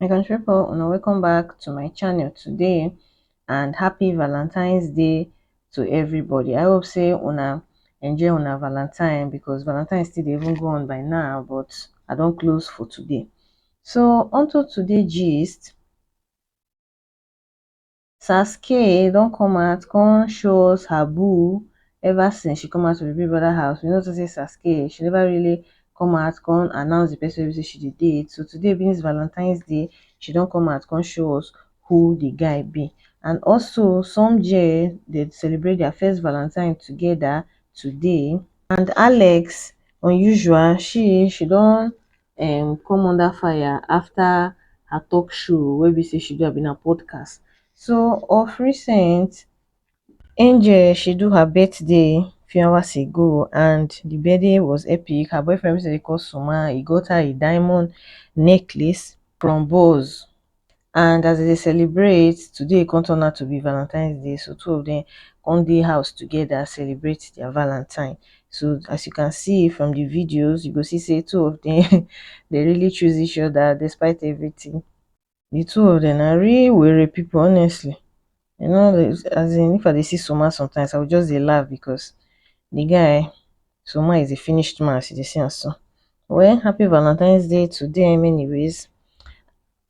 my country people and welcome back to my channel today and happy valentine's day to everybody i hope say una enjoy una valentine because valentine still even go on by now but i don't close for today so onto today gist Sasuke don come out come show us her boo ever since she come out of the Big Brother house we no talk say Sasuke she never really come out come announce the person wey be say she dey date so today being this Valentine's day she don come out come show us who the guy be and also some Jay dey celebrate their first Valentine together today and Alex unusual she she don um come under fire after her talk show wey be sey she do abi na podcast. So of recent, Angel she do her birthday few hours ago and de birthday was epic, her boyfriend wey be sey dem dey call Suma, he got her a diamond necklace from Boss and as dem dey celebrate today e come turn out to be valentines day so two of dem come dey house together celebrate their valentine so as you can see from the videos you go see say two of them they really choose each other despite everything the two of them are real weary people honestly you know as in if i dey see soma sometimes i will just dey laugh because the guy soma is a finished man as you dey see am so well happy valentines day to them anyways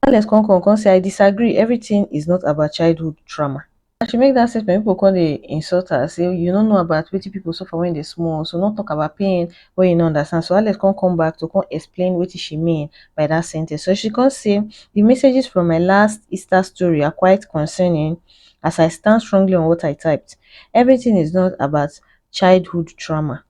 Alex come come come say I disagree everything is not about childhood trauma as she make that statement people come dey insult her say you no know about wetin people suffer when they small so no talk about pain wey you no understand so Alex come come back to come explain wetin she mean by that sentence so she come say the messages from my last Easter story are quite concerning as I stand strongly on what I typed everything is not about childhood trauma.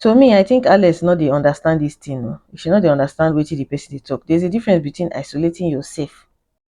To me I think Alex no dey understand this thing oo, she no dey understand wetin the person dey talk, there's a difference between isolating yourself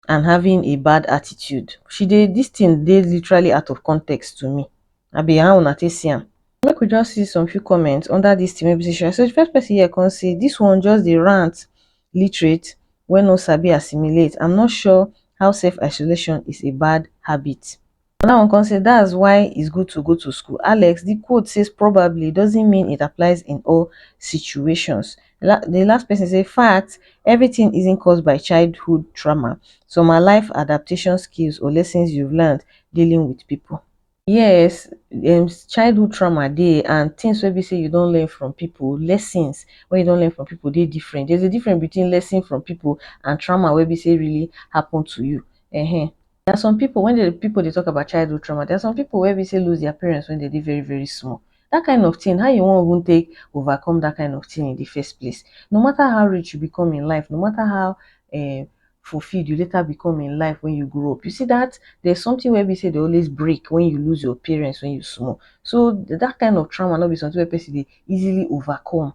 and having a bad attitude, she dey this thing dey literally out of context to me, abi how una take see am? Make we just see some few comments under this thing wey be say she write, so the first person here come say this one just dey rant, literate wey no sabi assimilate, I'm not sure how self isolation is a bad habit. Another one come say that's why it's good to go to school. Alex, the quote says probably doesn't mean it applies in all situations. La the last person say fact, everything isn't caused by childhood trauma. Some are life adaptation skills or lessons you've learned dealing with people. Yes, um, childhood trauma dey and things wey be say you don learn from people, lessons wey you don learn from people dey different. There's a difference between lesson from people and trauma wey be say really happen to you. Uh -huh. There are some people when the people dey talk about childhood trauma, there are some people wey be say lose their parents when they dey very very small. That kind of thing, how you wan even take overcome that kind of thing in the first place? No matter how rich you become in life, no matter how um fulfilled you later become in life when you grow up, you see that there's something wey be say dey always break when you lose your parents when you small. So that kind of trauma no be something wey person dey easily overcome.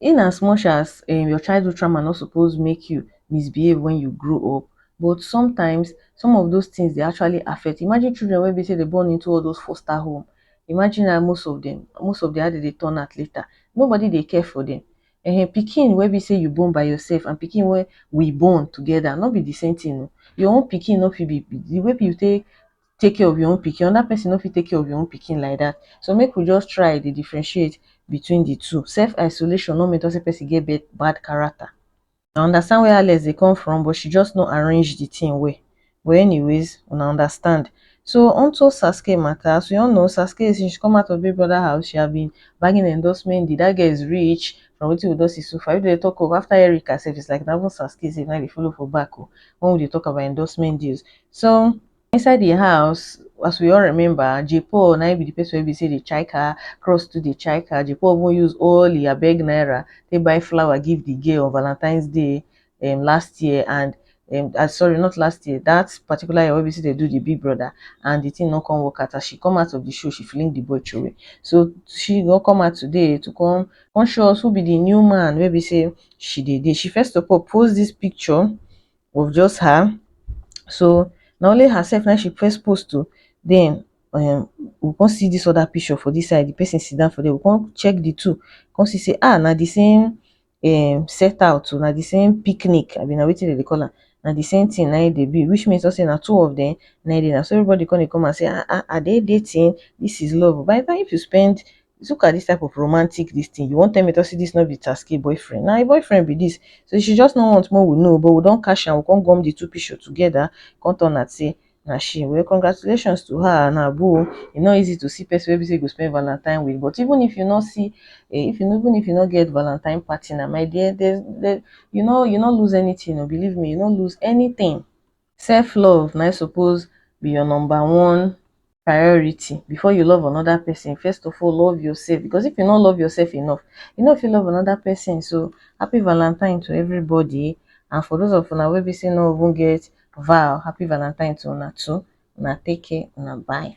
In as much as um your childhood trauma no suppose make you misbehave when you grow up, but sometimes some of those things dey actually affect. Imagine children wey be say they born into all those foster home. Imagine how most of them, most of the how they dey turn out later. Nobody dey care for them. um Pikin wey be say you born by yourself and pikin wey we born together no be the same thing oh. Your own pikin no fit be the way you take take care of your own pikin, another person no fit take care of your own pikin like that. So make we just try dey differentiate between the two. Self isolation no mean talk say person get bad bad character. I understand where Alex dey come from but she just no arrange the thing well. But anyways, una understand. So onto Sasuke matter, as we all know Sasuke since she come out of Big Brother house she have been bagging endorsement deal, that girl is rich from wetin we don see so far. If dem dey talk of after Erica sef it's like na even Sasuke sef na im dey follow for back o when we dey talk about endorsement deals. So Inside the house, as we all remember, J. Paul na be the person wey be say dey check her, Cross to dey check her. J. Paul even use all the abeg naira they buy flower give the girl on Valentine's Day um, last year and um, uh, sorry, not last year, that particular year wey we see they do the big brother and the thing not come work out. As she come out of the show, she feeling the boy away. So she go come out today to come, come show us who be the new man wey we say she did. She first of all post this picture of just her so na only herself na she first post o den um we come see dis other picture for dis side, di person sit down for there we come check di two come see sey ah na di same um set out o na di same picnic abi na wetin dem dey call am na di same thing na im dey be which means sey na two of dem na im dey, na so everybody come dey come out sey ah ah are they dating? dis is love o by di time if you spend look at this type of romantic this thing you wan tell me to say this no be tasky boyfriend na him boyfriend be this so she just no want make we know but we don catch am we come gum the two picture together come turn am say na she well congratulations to her na boo e no easy to see person wey be say you go spend valentine with but even if you no see eh, if you no even if you no get valentine party na my dear there's there, you no you no lose anything o believe me you no lose anything self love na suppose be your number one priority before you love another person first of all love yourself because if you no love yourself enough you no fit love another person so happy valentine to everybody and for those of una wey be say no even get vow happy valentine to una too una take care una bye.